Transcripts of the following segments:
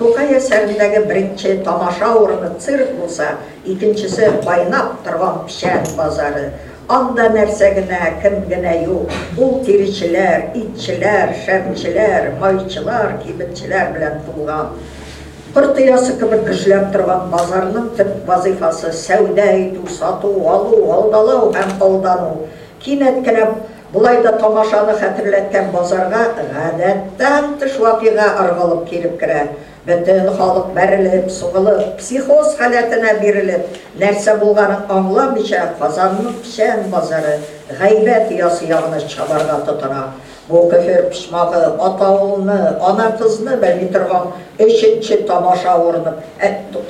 Тукай әсәрендәге беренче тамаша урыны цирк булса, икенчесе, кайнап торган печән базары. Анда нәрсә генә, кем генә юк! Ул тиречеләр, итчеләр, шәмчеләр, майчылар, кибетчеләр белән тулган. Корт оясы кебек гөжләп торган базарның төп вазыйфасы, сәүдә итү, сату, алу, алдалау һәм алдану. Кинәт кенә Болай да тамашаны хәтерләткән базарга гадәттән тыш вакыйга ыргылып килеп керә. Бөтен халык бәрелеп, сугылып, психоз халәтенә бирелеп, нәрсә булганын аңламыйча, Казанның печән базары, Гайбәт оясы ягына чабарга тотына. Бу көфер почмагы, атаулны, ана-кызны белми торган өченче тамаша урыны,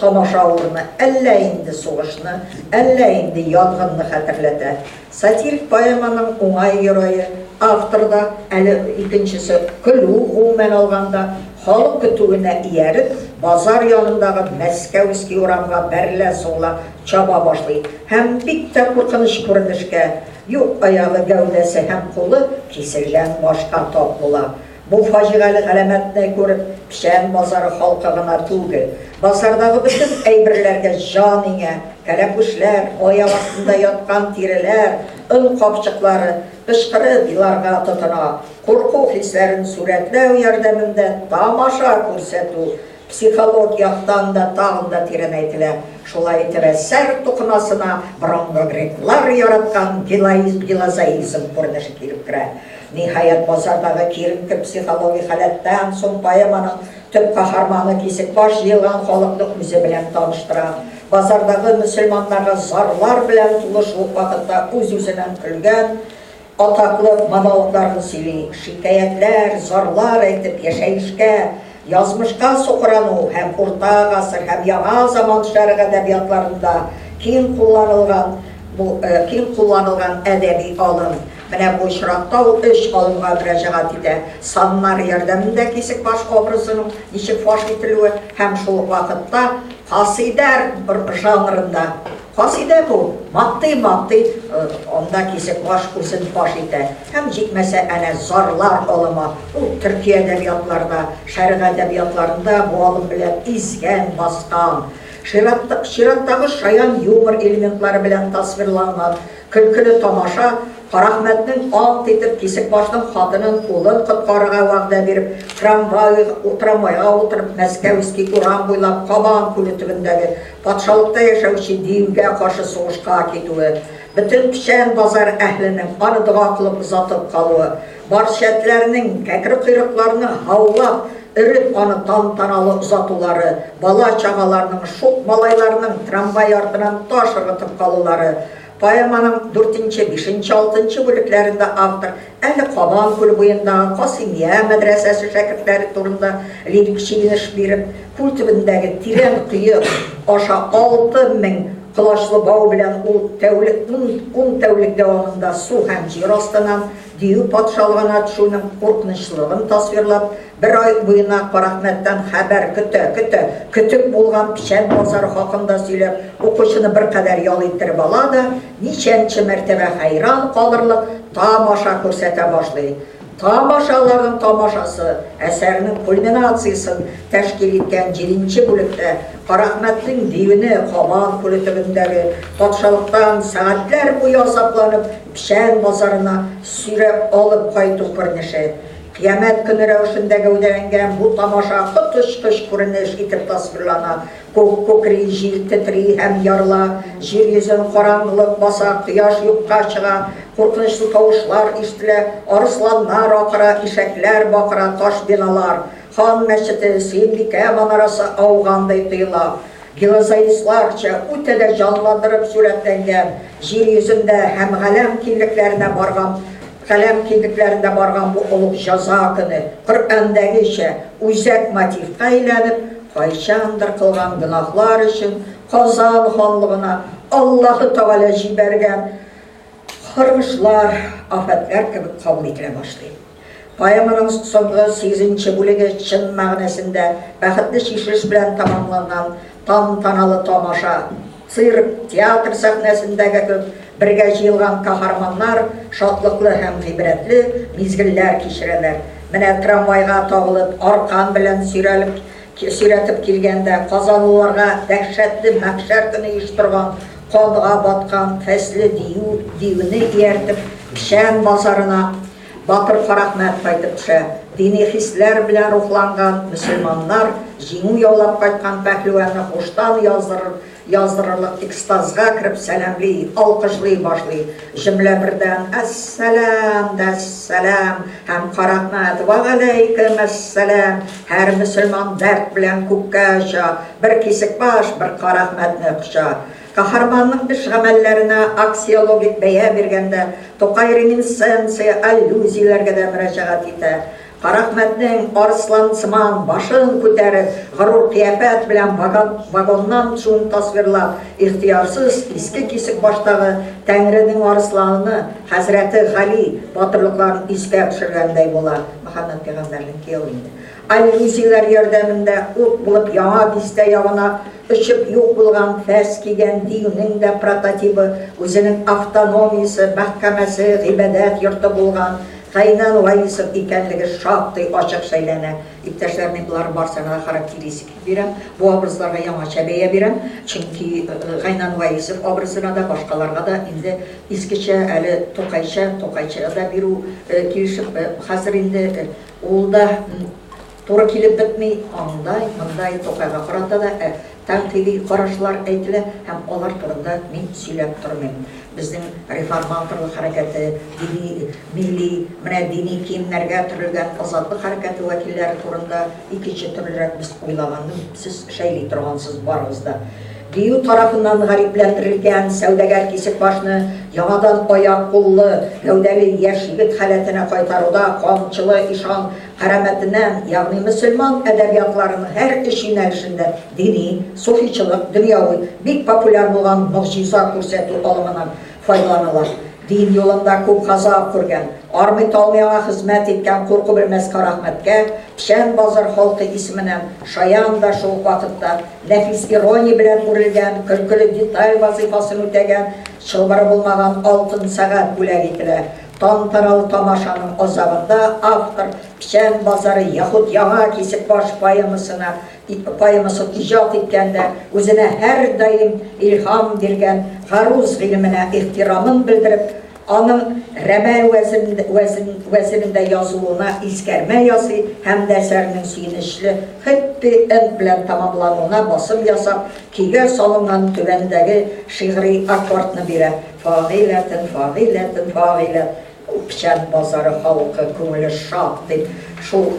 тамаша урыны әллә инде сугышны, әллә инде янгынны хәтерләтә. Сатирик поэманың уңай герое, автор да, әле икенчесе, көлү, гомумән алганда, халык көтүенә ияреп, базар янындагы Мәскәүский урамга бәрелә-сугыла чаба башлый һәм бик тә куркыныч күренешкә юк аягы, гәүдәсе һәм кулы киселгән башка тап була. Бу фаҗигале галәмәтне күреп, Печән базары халкы гына түгел, базардагы бөтен әйберләргә җан иңә, кәләпүшләр, аяк астында яткан тиреләр, он капчыклары, кычкырып еларга тотына. Курку хисләрен сурәтләү ярдәмендә тамаша күрсәтү Психолог яктан да тагын да тирәнәйтелә. Шулай итеп, әсәр тукымасына борынгы греклар яраткан гилаизм, гилозаизм күренеше килеп керә. Ниһаять, базардагы киеренке психологик халәттән соң поэманың төп каһарманы Кисекбаш җыелган халыкны үзе белән таныштыра. Базардагы мөселманнарга зарлар белән тулы шул ук вакытта үз-үзеннән көлгән, Атаклык монологларын сөйли, шикаятьләр, зарлар әйтеп, яшәешкә, язмышка сукрану һәм урта гасыр һәм яңа заман шәрык әдәбиятларында киң кулланылган бу киң кулланылган әдәби алым. Менә бу очракта ул өч алымга мөрәҗәгать итә, саннар ярдәмендә Кисекбаш образының ничек фаш ителүе һәм шул ук вакытта касыйдә жанрында, Касыйдә бу, мактый-мактый, анда кисеп баш үзен фаш итә, һәм җитмәсә, әнә зарлар алымы, ул төрки әдәбиятларда, шәрык әдәбиятларында бу алым белән изгән, баскан, чираттагы шаян юмор элементлары белән тасвирланган көлкеле тамаша, Карахмәтнең ант итеп кисек башның хатынын, улын коткарырга вәгъдә биреп, трамвайга утырып, Мәскәүский урам буйлап, Кабан күле төбендәге Патшалыкта яшәүче дингә каршы сугышка китүе, бөтен печән базар әһленең аны дога кылып озатып калуы, барчәтләрнең, кәкре койрыкларны һаулап, өреп аны тантаналы озатулары, бала-чагаларның, шук малайларның трамвай артыннан таш ыргытып калулары, Поэманың дүртенче, бишенче, алтынчы бүлекләрендә автор әле Кабан күле буендагы Касыймия мәдрәсәсе шәкертләре турында лирик чигенеш биреп, күл төбендәге тирән кое аша алты мең колачлы бау белән ул тәүлек ун тәүлек дәвамында су һәм җир астыннан дию патшалыгына төшүнең куркынычлылыгын тасвирлап, Бер ай буена Карахмәттән хәбәр көтә, көтә, көтеп булган печән басары хакында сөйләп, укучыны беркадәр ял иттереп ала да, ничәнче мәртәбә хәйран калырлык тамаша күрсәтә башлый. Тамашаларның тамашасы әсәрнең кульминациясен тәшкил иткән җиденче бүлектә Карахмәтнең диюне Кабан күле төбендәге патшалыктан сәгатьләр буе азапланып печән басарына сөйрәп алып кайту күренеше Кыямәт көне рәвешендә гәүдәләнгән бу тамаша коточкыч күренеш итеп тасвирлана. Күк күкри, җил тетри һәм ярыла, җир йөзен караңгылык баса, кояш юкка чыга, куркынычлы тавышлар ишетелә, арысланнар акыра, ишәкләр бакыра, таш биналар, Хан мәчете, Сөембикә манарасы аугандай тоела. Гилозаисларча үтә дә җанландырып сурәтләнгән, җир йөзендә һәм галәм киңлекләренә барган, Каләм кидекләрендә барган бу олуг җәза көне, Коръәндәгечә, үзәк мотивка әйләнеп, кайчандыр кылган гөнаһлар өчен Казан ханлыгына Аллаһы Тәгалә җибәргән каргышлар, афәтләр кебек кабул ителә башлый. Поэманың соңгы сигезенче бүлеге чын мәгънәсендә бәхетле чишелеш белән тәмамланган тантаналы тамаша, цирк, театр сәхнәсендәге кебек бергә җыелган каһарманнар шатлыклы һәм гыйбрәтле мизгелләр кичерәләр. Менә трамвайга тагылып, аркан белән сөйрәлеп сөйрәтеп килгәндә, казанлыларга дәһшәтле мәхшәр көне оештырган, канга баткан фәсле дию, диюне ияртеп, печән базарына Батыр Карәхмәт кайтып төшә. Дини хисләр белән рухланган мөселманнар җиңү яулап кайткан пәһлеванны һуштан яздырырлык экстазга кереп сәламли, алкышлый башлый. Җөмлә бердән, Әссәлам! Дәссәлам! һәм Карәхмәт, Вәгаләйкем әссәлам! Һәр мөселман дәрт белән күккә оча, бер Кисекбаш, бер Карәхмәтне коча. Каһарманның эш-гамәлләренә аксиологик бәя биргәндә, Тукай реминисценция, аллюзияләргә дә мөрәҗәгать итә. Карахмәтнең арыслансыман башын күтәреп, горур кыяфәт белән вагоннан төшүен тасвирлап, ихтыярсыз иске кисек баштагы Тәңренең арысланы, хәзрәте Гали, батырлыкларын искә төшергәндәй була. Мөхәммәт пәйгамбәрнең кияве инде. Альпинистлар ярдәмендә ут булып Яңа Бистә ягына очып юк булган фәс кигән диюнең дә прототибы, үзенең автономиясе, мәхкәмәсе, гыйбадәт йорты булган Кәйнан Ваисов икәнлеге шактый ачык шәйләнә. Иптәшләр, мин боларның барысына да характеристик бирәм, бу образларга яңача бәя бирәм, чөнки Гайнан Ваисов образына да, башкаларга да инде искечә, әле Тукайча, Тукайчага да бирү килешеп, хәзер инде Ул да туры килеп бетми, андай, мондай Тукайга карата да ә, тәнкыйди карашлар әйтелә һәм алар турында мин сөйләп тормыйм. Безнең реформаторлык хәрәкәте, дини, милли, менә дини киемнәргә төрелгән азатлык хәрәкәте вәкилләре турында икенче төрлерәк без уйлаган Сез шәйли торгансыз барыгыз да. Дию тарафыннан гарипләндерелгән сәүдәгәр Кисекбашны яңадан аяк-куллы, гәүдәле яшь егет халәтенә кайтаруда Камчылы ишан Карәмәтенә, ягъни мөселман әдәбиятларының һәр өч юнәлешендә, дини, суфичылык, дөньяви, бик популяр булган могҗиза күрсәтү алымының Файдаланалар. Дин юлында күп газап күргән, армый-талмый аңа хезмәт иткән курку белмәс Карәхмәткә Печән базар халкы исеменнән шаян да шул ук вакытта нәфис ирония белән үрелгән көлкеле деталь вазыйфасын үтәгән чылбыры булмаган алтын сәгать бүләк ителә. Тантаналы тамашаның азагында автор Печән базары яхуд Яңа Кисекбаш поэмасына Поэмасын иҗат иткәндә үзенә һәрдаим илһам биргән гаруз гыйлеменә ихтирамын белдереп, аның Рәмәл вәзенендә язылуына искәрмә ясый һәм дә әсәрнең сөенечле хэппи энд белән тәмамлануына басым ясап, көйгә салынган түбәндәге шигъри аккордны бирә, Фагыйләтен, фагыйләтен, фагыйләт, Күпчән базары халкы күңеле шат, дип, шул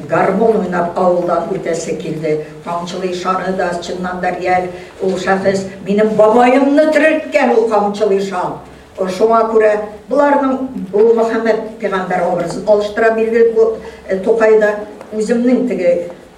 гармун уйнап авылдан үтәсе килде. Камчылы ишаны да, чыннан да, реаль ул шәхес. Минем бабаемны терелткән ул Камчылы ишан. Шуңа күрә боларның ул Мөхәммәд пигамбәр образын алыштыра бирде бу Тукайда. Үземнең теге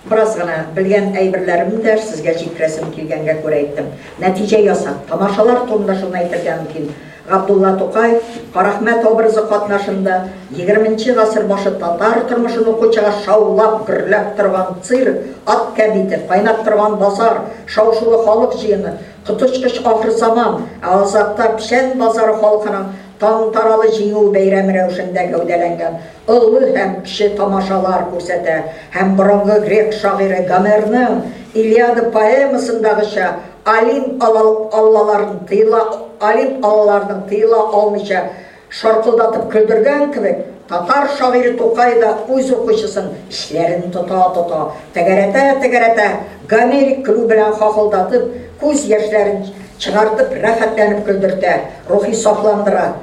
Бераз гына белгән әйберләремне дә сезгә җиткерәсем килгәнгә күрә әйттем. Нәтиҗә ясап, тамашалар турында шуны әйтергә мөмкин, Габдулла Тукай, Карахмәт образы катнашында, егерменче гасыр башы татар тормышын укучыга шаулап, гөрләп торган цирк, ат кәбите, кайнап торган базар, шау-шулы халык җыены, коточкыч ахырзаман, ә азакта печән базары халкының тантаналы Җиңү бәйрәме рәвешендә гәүдәләнгән Олы һәм кече тамашалар күрсәтә һәм борынгы грек шагыйре Гомерның Илиада поэмасындагыча олимп аллаларын тыела олимп аллаларының тыела алмыйча шаркылдатып көлдергән кебек, татар шагыйре Тукай да үз укучысын эчләрен тота-тота, тәгәрәтә-тәгәрәтә, гомерик көлү белән хахылдатып, күз яшьләрен чыгартып рәхәтләнеп көлдертә, рухи сафландыра.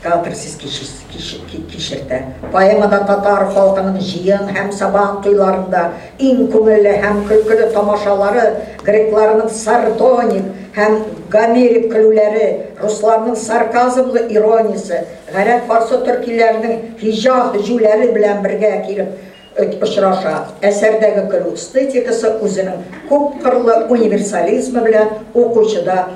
Театр сез кичертә. Поэмада татар халкының җыен һәм Сабан туйларында иң күңелле һәм көлкеле тамашалары, грекларның сардоник һәм гомерик көлүләре, русларның сарказмлы ирониясе, гарәп-фарсы төркиләренең һиҗа һөҗүләре белән бергә килеп очраша. Әсәрдәге көлү эстетикасы үзенең күпкырлы универсализмы белән укучыда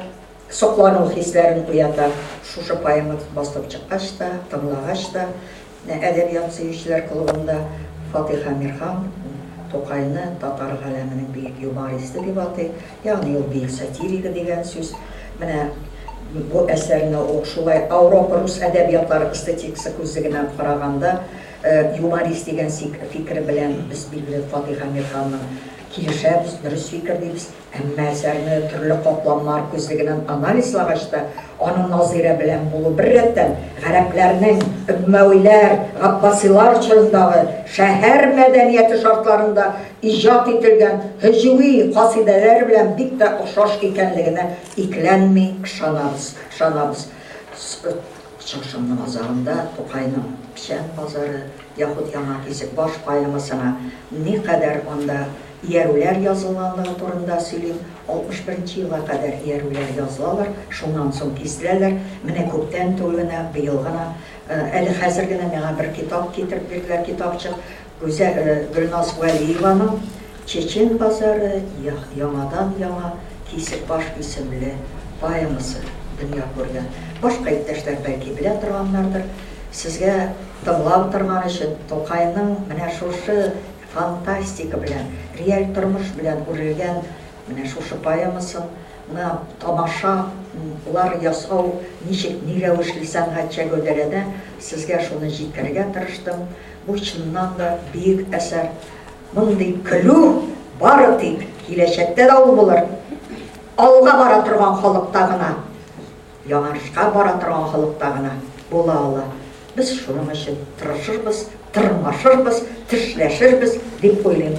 Соклану хисләрен уята. Шушы поэмагыз басылып чыккач та, тыңлагач та, менә Әдәбият сөючеләр клубында Фатыйх Әмирхан Тукайны татар галәменең бөек юмористы дип атый, ягъни ул бөек сатиригы дигән сүз. Менә бу әсәрне ул шулай Ауропа-рус әдәбиятлары эстетикасы күзлегеннән караганда, юморист дигән фикер белән без, билгеле, Фатыйх Әмирханның килешәбез, дөрес фикер дибез. Әмма әсәрне төрле катламнар күзлегеннән анализлагач та, аның Назыйрә белән булу, бер рәттән, гарәпләрнең өммәвиләр, габбасилар чорындагы шәһәр мәдәнияте шартларында иҗат ителгән һөҗүи касыйдәләр белән бик тә охшаш икәнлегенә икеләнми ышанабыз, ышанабыз. Чакшымның азагында Тукайның печән базары, яхуд Яңа Кисек баш поэмасына никадәр анда Иярүләр язылганлыгы турында сөйлим, 61 нче елга кадәр иярүләр язылалар, шуннан соң киселәләр, менә күптән түгел генә, быел гына, әле хәзер генә миңа бер китап китереп бирделәр, китапчык, Гүзә, Гөлназ Вәлиеваның Чечен базары, я, яңадан яңа кисек баш исемле поэмасы дөнья күргән. Башка иптәшләр бәлки белә торганнардыр. Сезгә тыңлап торган өчен, Тукайның менә шушы Фантастика белән, реаль тормыш белән үрелгән менә шушы поэмасын ны тамаша лар ясау ничек, ни рәвешле сәнгатьчә гәүдәләнә, сезгә шуны җиткерергә тырыштым. Бу чыннан да бөек әсәр. Мондый көлү бары тик киләчәктә дә ул булыр. Алга бара торган халыкта гына. Яңарышка бара торган халыкта гына була ала. Без шуның өчен тырышырбыз, тырмашырбыз, тешләшербез, дип уйлыйм.